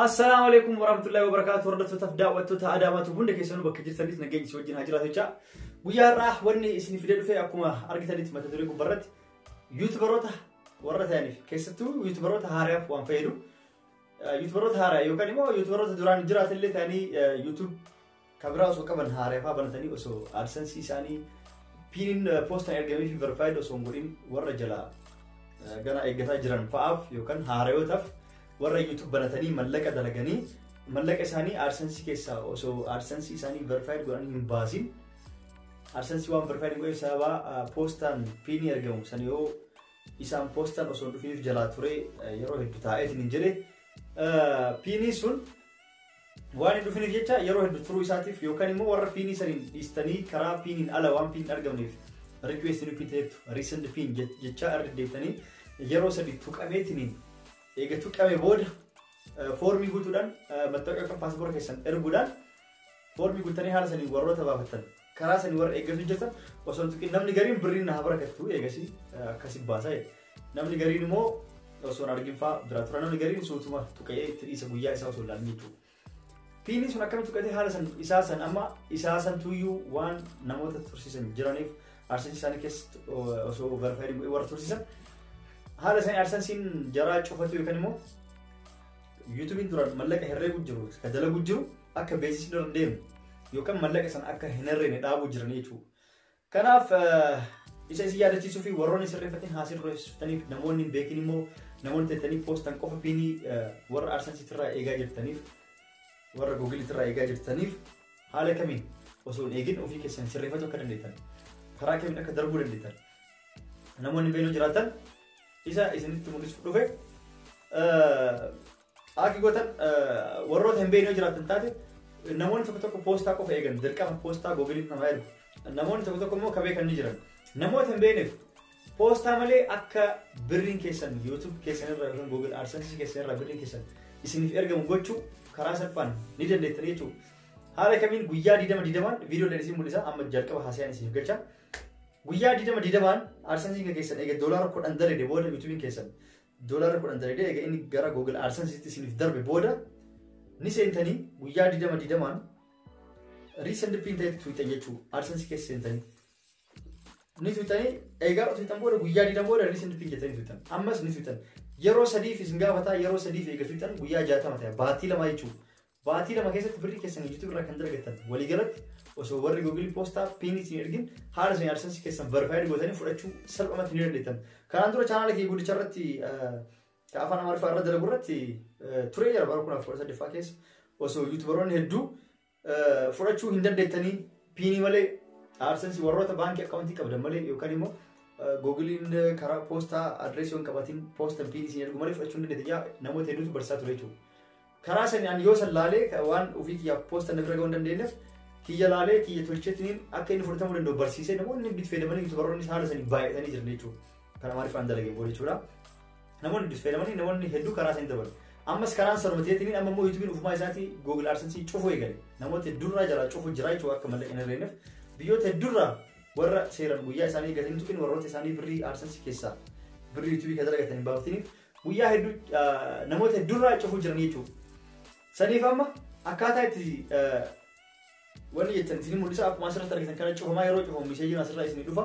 Assalaamu alaikum warahmatullahi wabarakatuh hordoftootaf daawwattoota Adaamaatu hunda keessanuu bakka jirtanitti nageenyi si wajjin haa jiraatu jecha guyyaa har'aa wanni isin fidee dhufe akkuma argitanitti mata duree gubbarratti yuutubaroota warra ta'aniif keessattuu yuutubaroota haaraaf waan fayyadu yuutubaroota haaraa yookaan immoo yuutubaroota duraan jiraatallee ta'anii yuutuub Kan biraa osoo qaban haarefaa banatanii osoo AdSense isaanii piiniin poostaan ergamee fi verified osoo hin godhin warra jalaa gana eeggataa jiran fa'aaf yookaan haarayootaaf warra YouTube banatanii mallaqa dalaganii mallaqa isaanii AdSense keessaa osoo AdSense isaanii verified godhan hin baasin AdSense waan verified godhe sababa poostaan piinii ergamu san yoo isaan poostaan osoo hin dhufiniif jalaa ture yeroo hedduu taa'eetiin hin jedhe piinii sun Waan hin dhufiniif jecha yeroo heddu turuu isaatiif yookaan immoo warra piinii saniin dhiistanii karaa piiniin ala waan piin argamneef request nu piin ta'etu recent piin jechaa irra deddeebitanii yeroo sadi tuqameetiniin eega tuqame booda foormii guutuudhaan mattawqa yookaan paaspoora keessan erguudhaan foormii guuttanii haala saniin warroota baafattan karaa sanii warra eeggas hojjeta osoo hin tuqin namni gariin birriin na haa barakattu eegasii eh, akkasi baasa jedhe. namni gariin immoo osoo hin argin fa'aa bira tura namni gariin suutuma tuqee itti dhiisa guyyaa isaa osoo hin ilaalin jechuudha. Piinii sun akkamitti tuqatee haala san isaa san amma isaa san tuyyuu waan namoota tursiisan jiraniif arsii isaanii keessatti o- osoo verifaayiin godhee warra tursiisan haala isaanii arsansiin jaraa cufatu yookaan immoo yuutuubiin duraan mallaqa herreeguu jiru ka dalaguu jiru akka beeksisni irra deemu yookaan mallaqa sana akka hin herreene dhaabuu jiran jechuudha. Kanaaf isa isin yaadachiisuu fi warroonni sirreeffatanii haasii dureessitaniif namoonni hin beekin immoo namoonni teettanii poostan qofa piinii warra arsansiitti irraa eegaa jirtaniif warra googiliitti irraa eegaa jirtaniif haala kamiin osoo hin eegin ofii keessan sirreeffachuu akka dandeettan karaa kamiin akka darbuu dandeettan namoonni beeloo jiraatan isa isinitti mul'isuuf dhufe Aaki gootan warroota hin beekne yoo jiraatan taate namoonni tokko tokko poostaa qofa eegan dirqama poostaa googiliif namaa ergu. Namoonni tokko tokko immoo kabee kan ni jiran. Namoota hin beekneef poostaa malee akka birriin keessan YouTube keessan irraa yookiin Google AdSense keessan irraa birriin keessan isiniif ergamu gochuu karaa salphaan ni dandeettan jechuudha. Haala kamiin guyyaa 20 didamaan viidiyoo dhaan isin mul'isa amma jalqaba haasayaan isiniif galcha. Guyyaa 20 didamaan AdSense keessan eega doolaara 10 dalagde booda YouTube keessan Doolarri kudhan dalagdee egaa inni gara Google AdSense'tti isiniif darbe booda ni seentanii guyyaa digdama digdamaan riisend piin ta'etti tuuxan jechuu AdSense keessa seentanii. Ni tuuxanii egaa tuuxan booda guyyaa digdama booda riisend piin jettanii tuuxan ammas ni tuuxan yeroo sadiif isin gaafataa yeroo sadiif eega tuuxan guyyaa jaatama ta'e baatii lama jechuudha. Baatii lama keessatti birrii keessan YouTube irraa kan dalagattan walii galatti osoo warri Google Poostaa piin isin ergin haala isin AdSense keessan verified gootanii fudhachuu salphumatti ni dandeettan. Kanaan dura chaanaala kee guddicha irratti ka afaan Amaariffaa irra dalagu irratti turee jira bara kuma kudha saddeettoo keessa osoo YouTuberoonni hedduu fudhachuu hin dandeettanii piinii malee AdSense warroota baankii akkaawuntii qabdan malee yookaan immoo Googiliin karaa poostaa adreesii hin qabatin poostan piinii isin ergu malee fudhachuu hin dandeettan namoota hedduutu barsiisaa ture jechuudha. Karaa sani ani yoo san laalee ka- waan ofii kiyya poosta na bira ga'uu hin dandeenyeef kiyya laalee kiyya tolchetiniin akka inni fudhatamuu danda'u barsiisee namoonni itti fayyadamanii yuutubaroonnis haala sanii baay'atanii jiran jechuudha. Kan amaariffaan dalageen booda jechuudha. Namoonni itti fayyadamanii namoonni hedduu karaa sanii dabalu. Ammas karaan sanuma ta'eetiniin amma immoo yuutubiin ofumaa isaatii Google AdSense cufuu eegale. Namoota hedduurraa jalaa cufuu jira jechuudha akka mallaqa hin argeenyeef. Biyyoota hedduurraa warra seeran guyyaa isaanii eegatanii tuqin warroota isaanii birrii AdSense keessaa birrii yuutubii kan dalagatan hin baafatiniif Guyyaa hedduu namoota hedduurraa cufuu jiranii jechuudha. Saniif amma akkaataa itti wanni jettan isin mul'isa akkuma asirratti argitan kana cufamaa yeroo cufamu miseejiin asirraa isin dhufa.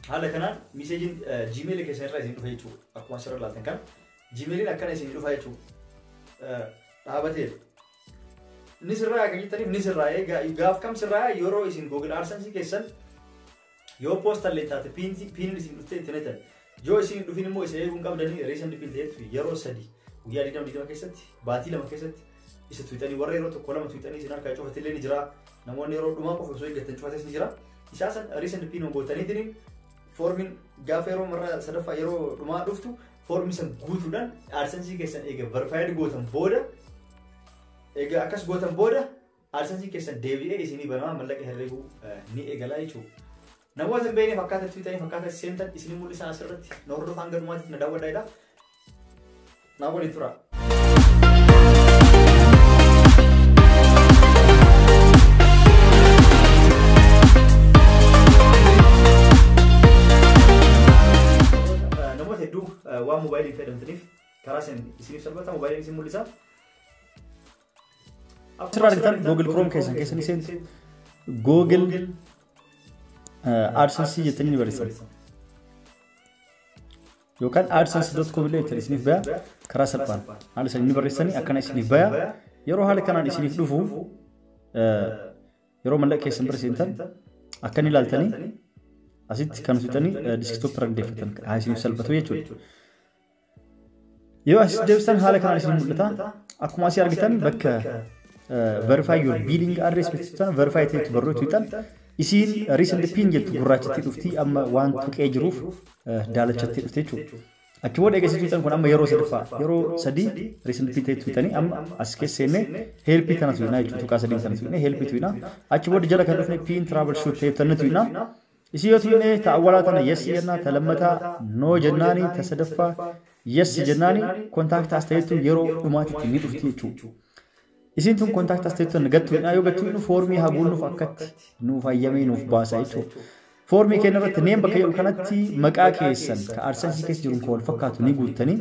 Haala kanaan miseejiin jiimeelii keessan irraa isin dhufa jechuudha. Akkuma asirra ilaaltan kana jiimeeliin akkana isin dhufa jechuudha. Dhaabateera. Ni sirraa kan jettaniif ni sirraa gaaf kam sirraa yeroo isin Google AdSense keessan Yoo poostan illee taate piinti piinin isin dhuftee itti naqatan. Yoo isin hin dhufin immoo isa eeguun qabdanii reessan dhiphin ta'etu yeroo sadi guyyaa digdama digdama keessatti baatii lama keessatti isa tuwitanii warra yeroo tokko lama tuwitanii isin harkaa cufate illee ni jira. Namoonni yeroo dhumaa qofa osoo eeggatan cufates ni jira. Isaa san reessan dhiphin gootaniitiin foormiin gaafa yeroo marra sadaffaa yeroo dhumaa dhuftu foormii san guutuudhaan aadsansii keessan eega barfaayid gootan booda eega akkas gootan booda AdSense keessan deebi'ee isinii banamaa mallaqa herreguu ni eegalaa jechuudha. Namoota hin beekneef akkaataa itti bitaniif akkaataa itti seentan isinii mul'isaa asirratti na hordofaa hanga dhumaatiif na daawwadhaa jedha. Naa waliin turaa. namoota hedduu waan moobaayilii fayyadamtaniif karaa isin isiniif salphata moobaayiliin isin mul'isa. Asirraa argitan Google Chrome keessan keessa ni seentu. Google AdSense jettanii ni barreessan. Yookaan AdSense.com illee jettanii isiniif baya karaa salphaan haala isanii ni barreessanii akkana isiniif baya. Yeroo haala kanaan isiniif dhufu yeroo mallaqa keessan bira seentan akka ni ilaaltanii asitti kan hojjetanii diskitooppii irra deeffatan haa isiniif salphatu jechuudha. Yoo as deebisan haala kanaan isin mul'ata. Akkuma asii argitan bakka verify your billing address jechuun verify ta'etu barruu tuutan isiin recent pin jettu gurraachatti dhufti amma waan tuqee jiruuf daalachatti dhufte jechuudha. Achi booda eegasii tuutan kun amma yeroo sadaffaa yeroo sadii recent pin ta'e tuutanii amma as keessa seennee helpii tana tuutinaa jechuudha tuqaa sadiin tana tuutinee helpii tuutinaa achi booda jala kan dhufne pin travel shoot ta'e tanna tuutinaa Isii yoo tunnee ta awwalaa tana yes jennaa ta lammataa no jennaani ta sadaffaa yes jennaani contact as ta'ettu yeroo dhumaatitti ni dhufti jechuu. Isiin tun contact as ta'ettu tan gattu hidhaa yoo gattu hidhu foormii haa guunnuuf akkatti nuuf hayyamee nuuf baasa jechuu. Foormii keenya irratti name bakka jedhu kanatti maqaa keessan ka AdSense keessa jiruun ka wal fakkaatu ni guuttanii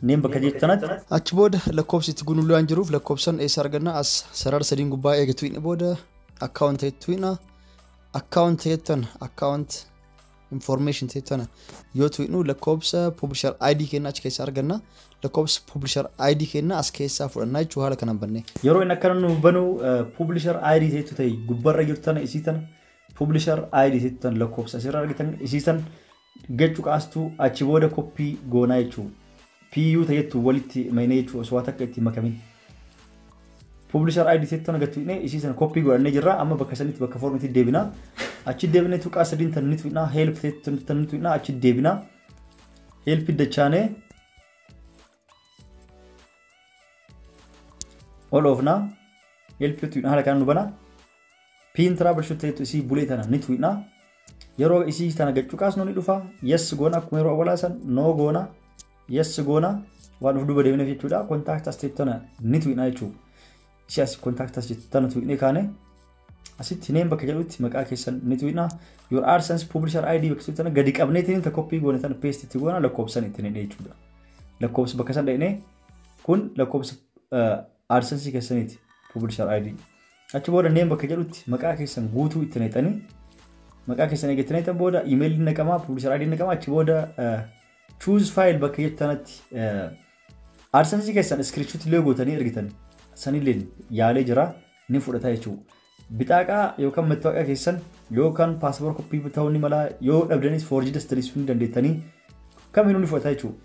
Name bakka jettu tanatti. Achi booda lakkoofsi itti guunullee waan jiruuf lakkoofsan eessa arganna as sarara sadiin gubbaa eega tuqne booda account ta'e tuqna account ta'e tana account information ta'e tana yoo tuqnu lakkoofsa publisher ID kenna achi keessa arganna lakkoofsa publisher ID kenna as keessaa fudhanna jechuu haala kanaan banne. Yeroo inni akkana nuuf banu publisher ID ta'e ta'e gubbarra jirtu tana isii tana publisher ID ta'e tana lakkoofsa asirra argitan isii tana Gad cuqaastuu achi booda copy goonaa jechuu PU ta jettu walitti maynee jechuu osoo waa takka itti hin makamin. Publisher ID tetti tana gad tuqnee isii sana copy godhannee jirra amma bakka sanitti bakka form itti deebina. Achi deebinee tuqaa sadiin tan ni tuqnaa help tetti tan ni tuqnaa achi deebina. Help dachaanee ol oofna help tuidha haala kanaan nu bana piin tiraabal shuteetu isii bulee tana ni tuidha yeroo isii tana gad cuqaasnu ni dhufa yes goona akkuma yeroo awwalaa san no goona yes goona waan of duuba deemneef jechuudha kontaakta step tana ni tuidha jechuudha Ishee asii contact as jettu tana tuqnee kaane asitti name bakka jedhutti maqaa keessan ni tuqna. Your AdSense publisher ID bakka jettu tana gadi qabneetiin ta copy goone tana paste itti goona lakkoofsan itti hidhee jechuudha. Lakkoofsa bakka san dhaqnee kun lakkoofsa AdSense keessaniiti publisher ID. Achi booda name bakka jedhutti maqaa keessan guutuu itti naqxanii maqaa keessan eegattanii naqxan booda email naqamaa publisher ID naqamaa achi booda choose file bakka jettu tanatti AdSense keessan screenshot illee gootanii ergitan sanillee yaalee jira ni fudhata jechuudha. Bixaaqaa yookaan mattaaqa keessan yookaan paaspoor koppii ta'uu ni mala yoo dhabdanis foorjii dastariisuu ni dandeettanii kamiinuu ni fudhata jechuudha.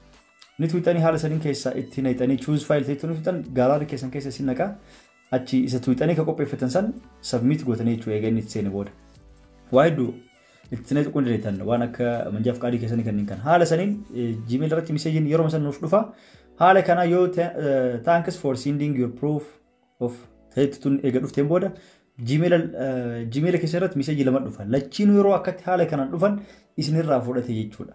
Ni tuuxanii haala saniin keessaa itti naqxanii choose file ta'etu ni tuuxan gaalarii keessan keessa isin naqa Achi isa tuuxanii ka qopheeffatan san submit gootanii jechuudha egaa inni itti seene booda. Waa hedduu itti seenee tuquu ni dandeettan waan akka manjaaf qaadii keessanii kanneen kan haala saniin Gmail irratti miseejiin yeroo san nuuf dhufa. Haala kanaa yoo thanks for sending your proof of ta'etti tun eega dhufteen booda Gmail keessa irratti miseejii lama dhufa. Lachiinuu yeroo akkatti haala kanaan dhufan isinirraa fudhate jechuudha.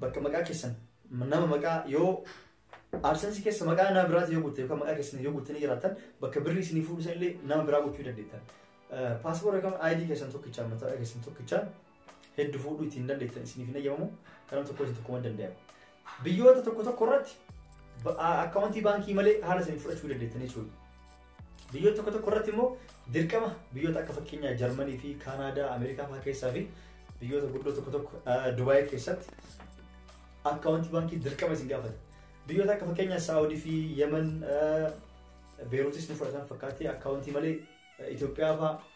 bakka maqaa keessan nama maqaa yoo AdSense keessa maqaa nama biraati yoo guutte yookaan maqaa keessan yoo guuttanii jiraattan bakka birrii isinii fuudhu san illee nama biraa gochuu dandeettan. Paaspoora yookaan ID keessan tokkicha mataa keessan tokkicha heddu fuudhu ittiin dandeettan isiniif hin eeyyamamu kanan tokko isin tokkuma danda'amu. Biyyoota tokko tokko irratti akkaawuntii baankii malee haala isin fudhachuu dandeettanii jechuudha. Biyyoota tokko tokko irratti immoo dirqama biyyoota akka fakkeenyaa Jarmanii fi Kaanaadaa, Ameerikaa fa'aa keessaa fi biyyoota guddoo tokko tokko Dubaay keessatti akkaawuntii baankii dirqama isin gaafata. Biyyoota akka fakkeenyaa Saawudii fi Yemen Beeruutis ni fudhatan fakkaatti akkaawuntii malee Itoophiyaa fa'aa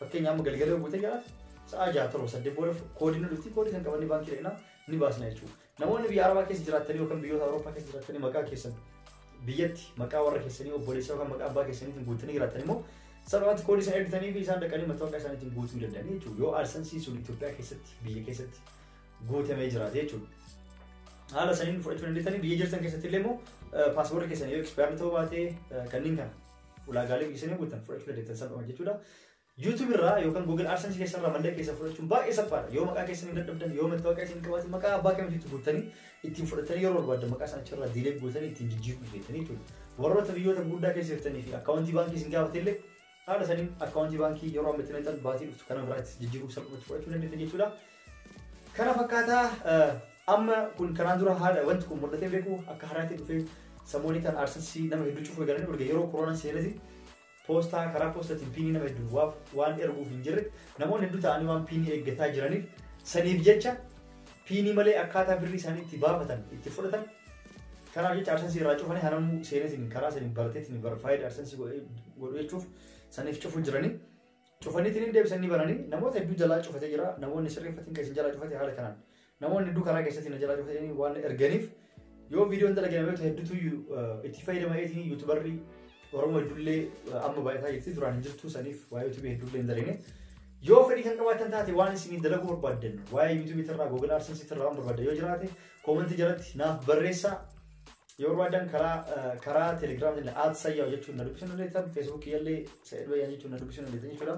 Fakkeenya amma galgala buutee galaaf sa'aa jaha torba saddeet booda koodii nu dhufti koodii kan qabannee baankii dhaqnaa ni baasna jechuudha. Namoonni biyya Arabaa keessa jiraattanii yookaan biyyoota Awurooppaa keessa jiraattanii maqaa keessan biyyatti maqaa warra keessanii obboleessa yookaan maqaa abbaa keessaniitiin guuttanii jiraattan immoo salphaatti koodii isaan ergitanii fi isaan dhaqanii mattaawoqaa isaaniitiin guutuu danda'anii jechuudha. Yoo aarsansii sun Itoophiyaa keessatti biyya keessatti guutamee jiraate jechuudha. Haala saniin fudhachuu dandeessanii biyya jirtan keessatti illee immoo paaspoortii keessan yoo ekspaayarii ta'uu baatee kanneen kana ulaagaalee isin guutan fudhachuu dandeettan salphama jechuudha. YouTube irraa yookaan Google AdSense keessa irraa mallaqa keessa fudhachuun baay'ee salphaadha. Yoo maqaa keessan hin dadhabdan, yoo mattaawoqaa isin qabaatan maqaa abbaa kamitti guuttanii ittiin fudhatanii yeroo barbaadan maqaa sana achirraa diilee guutanii ittiin jijjiiruu dandeettanii jechuudha. Warroota biyyoota guddaa keessa jirtanii fi akkaawuntii baankii isin gaafate illee haala saniin akkaawuntii baankii yeroo amma itti naqxan baatii dhuftu kana biraatti jijjiiruu salphumatti fudhachuu dandeettan jechuudha. Kana fakkaataa amma kun kanaan dura haala wanti kun mul'atee beeku akka haraatti dhufee samoonni kan aarsasii nama hedduu cufuu eegalanii erga yeroo koroonaa seenetti poostaa karaa poostaatiin piinii nama hedduun waaf waan erguuf hin jirre namoonni hedduu ta'anii waan piinii eeggataa jiraniif saniif jecha piinii malee akkaataa birrii isaanii itti baafatan itti fudhatan kanaaf jecha aarsasii irraa cufanii hanamuu seenetiin karaa saniin barateetiin barfaayid aarsasii godhu jechuuf saniif cufuu jiranii. Cufaniitiin hin deebisan ni bananii namoota hedduu jalaa cufatee jira namoonni sirreeffatiin kan isin jalaa cufate haala kanaan namoonni hedduu karaa keessatti na jalaa cufatanii waan erganiif yoo viidiyoon dalage namoota hedduutu itti fayyadama eetiin yuutubarri Oromoo ijoollee amma baay'ataa jirti duraan hin jirtu saniif waa'ee yuutubii hedduullee hin daline yoo fedhii kan qabaatan taate waan isin dalaguu barbaaddan waa'ee yuutubii irraa google adsense irraa waan barbaaddan yoo jiraate koomentii jalatti naaf barreessaa Yoo barbaadan karaa karaa Telegram jenne at sayyaa jechuun na dubbisuu dandeettan Facebook yallee Sa'id Bayyaan jechuun na dubbisuu dandeettan jechuudha.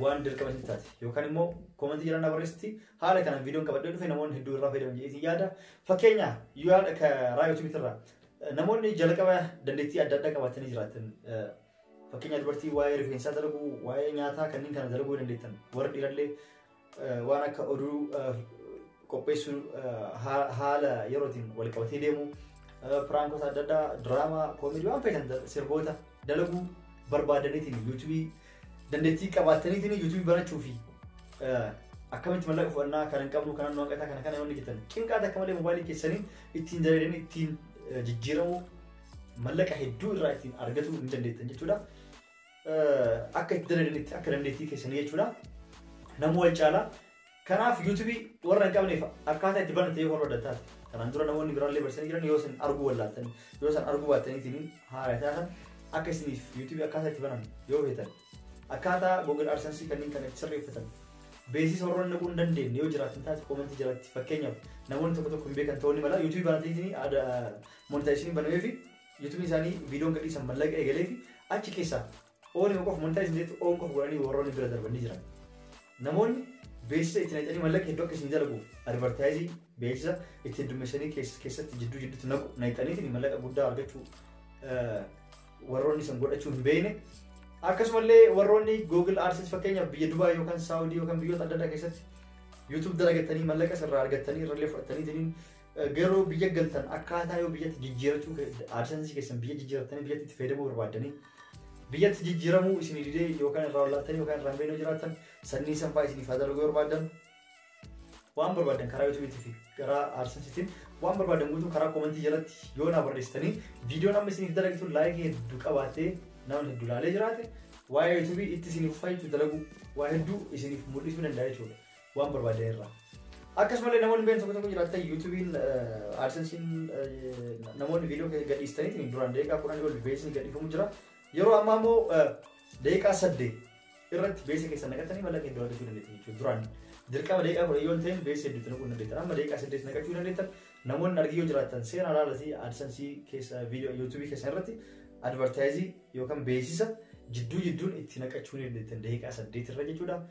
Waan dirqama isin taate yookaan immoo koomantii jiran barreessitti haala kanaan viidiyoon qabadhee dhufe namoonni hedduu irraa fayyadaman jedhee isin yaada. Fakkeenya yaada karaa YouTube irraa namoonni jalqaba dandeettii adda addaa qabaatanii jiraatan fakkeenya dubartii waa'ee rifeensaa dalaguu waa'ee nyaataa kanneen kana dalaguu dandeettan warri dhiirallee waan akka oduu qopheessuu haala yerootiin wal qabatee deemu piraankoota adda addaa diraamaa koomedii waan feetan sirboota dalaguu barbaadaniitiin yuutuubii dandeettii qabaataniitiin yuutuubii banachuu fi akkamitti mallaqa fudhannaa kan hin qabnu kanan waaqataa kana kana yoonni jettan cinqaata akka malee mobaayilii keessanii ittiin jalaleen ittiin jijjiiramuu mallaqa hedduu irraa ittiin argatuu hin dandeettan jechuudha. akka itti dalagnitti akka dandeettii keessanii jechuudha. Namuu wal caalaa. Kanaaf yuutuubii warra hin qabneef akkaataa itti banate yoo barbaaddan taate. Kanaan dura namoonni biraallee barsiisanii jiran yoo isin arguu wallaattan yoo isin arguu baattaniitiin haala taatan akka isiniif yuutuubii akkaataa itti banan yoo feetan akkaataa Google AdSense kanneen kana itti sirreeffatan beeksisa warroonni naquu hin dandeenye yoo jiraatan taate koomentii jalatti fakkeenyaaf namoonni tokko tokko hin beekan ta'uu ni mala yuutuubii banataniitiin monetaayisinii banamee fi YouTube isaanii viidiyoon gadhiisan mallaqa eegalee fi achi keessaa oon yoo qofa montaayis hin jettu oon qofa godhanii warroonni bira darban ni jiran. Namoonni beeksisa itti naqanii mallaqa hedduu akka isin dalaguuf advartaayizii beeksisa itti heddummeessanii keessatti jidduu jidduutti naqu naqxaniitiin mallaqa guddaa argachuu warroonni san godhachuu hin beekne. Akkasumallee warroonni Google Ads fakkeenyaaf biyya Dubaay yookaan Saawudii yookaan biyyoota adda addaa keessatti YouTube dalagattanii mallaqa sirraa argattanii irrallee fudhattaniitiin Garuu biyya galtan akkaataa yoo biyyatti jijjiirachuu aadsansii keessan biyya jijjiirattanii biyyatti itti fayyadamuu barbaaddanii biyyatti jijjiiramuu isin didee yookaan irraa ol'aattanii yookaan irraa hin jiraattan sannii sanfaa isin ifaa dalaguu barbaaddan waan barbaadan karaa yuutuubiitii fi karaa aadsansiitiin waan barbaadan guutuu karaa koomentii jalatti yoo naa barreessitanii viidiyoon amma isiniif dalagtu laayikii hedduu qabaatee namni hedduu laalee jiraate waa'ee yuutuubii itti isiniif fayyitu dalaguu waa hedduu isiniif mul'isuu danda'a jechuudha. waan barbaaddan irraa. Akkasumallee namoonni beekan tokko tokko jiraatan yuutuubiin aadsensiin namoonni viidiyoo keessa gadhiistanii duraan daqiiqaa kudhan ol beeksisni gadhiifamu jira. Yeroo ammaa immoo daqiiqaa saddeet irratti beeksisa keessa naqatanii mallaqa hedduu argachuu dandeettan jechuudha. Duraan dirqama daqiiqaa kudhan yoo ta'in beeksisa hedduutti naquu dandeettan. Amma daqiiqaa saddeet naqachuu dandeettan namoonni argii yoo jiraatan seera alaalasii aadsansii keessa viidiyoo yuutuubii keessa irratti advartaayizii yookaan beeksisa jidduu jidduun itti naqachuu ni dandeettan daqiiqaa saddeet irra jechuudha.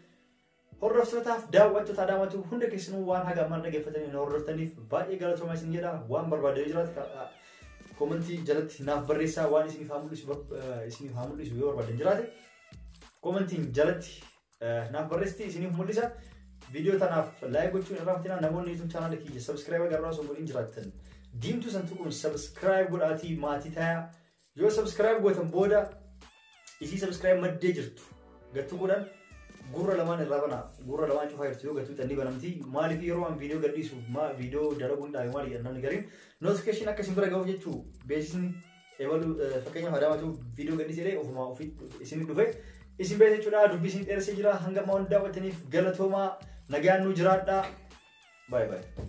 Hordoftootaaf daawwattoota Adaamaa Tube hunda keessanuu waan haga ammaan dhaggeeffatanii nu hordoftaniif baay'ee galatoomaa isin jedha. Waan barbaadee jiraatu karaa koomentii jalatti naaf barreessaa waan isiniif haa mul'isu bar- eh, isiniif haa mul'isu yoo barbaadee jiraate koomentiin jalatti eh, naaf barreessitii isiniif mul'isa. Viidiyoo tanaaf laayik gochuun irraa fatina namoonni YouTube chaanaala kiyya sabiskiraayib agarraa osoo godhin jiraattan diimtuu san tuquun sabiskiraayib godhaatii maatii tayaa Yoo subscribe gootan booda isii subscribe maddee jirtu gattu godhan gurra lamaan irraa banaa gurra lamaan cufaa jirtu yoo gattu xanni banamti maaliif yeroo waan viidiyoo gadhiisu maa viidiyoo dalaguun dhaabe maali jedhan namni gariin notification akka isin bira ga'uuf jechuu beeksisni eebalu fakkeenyaaf adaamatu viidiyoo gadhiise illee ofumaa ofii isin dhufe isin beeksisa jechuudha dubbii isin dheeressee jira hanga ammaa waan daawwattaniif galatoomaa nagaan nu jiraadhaa baay'ee baay'ee.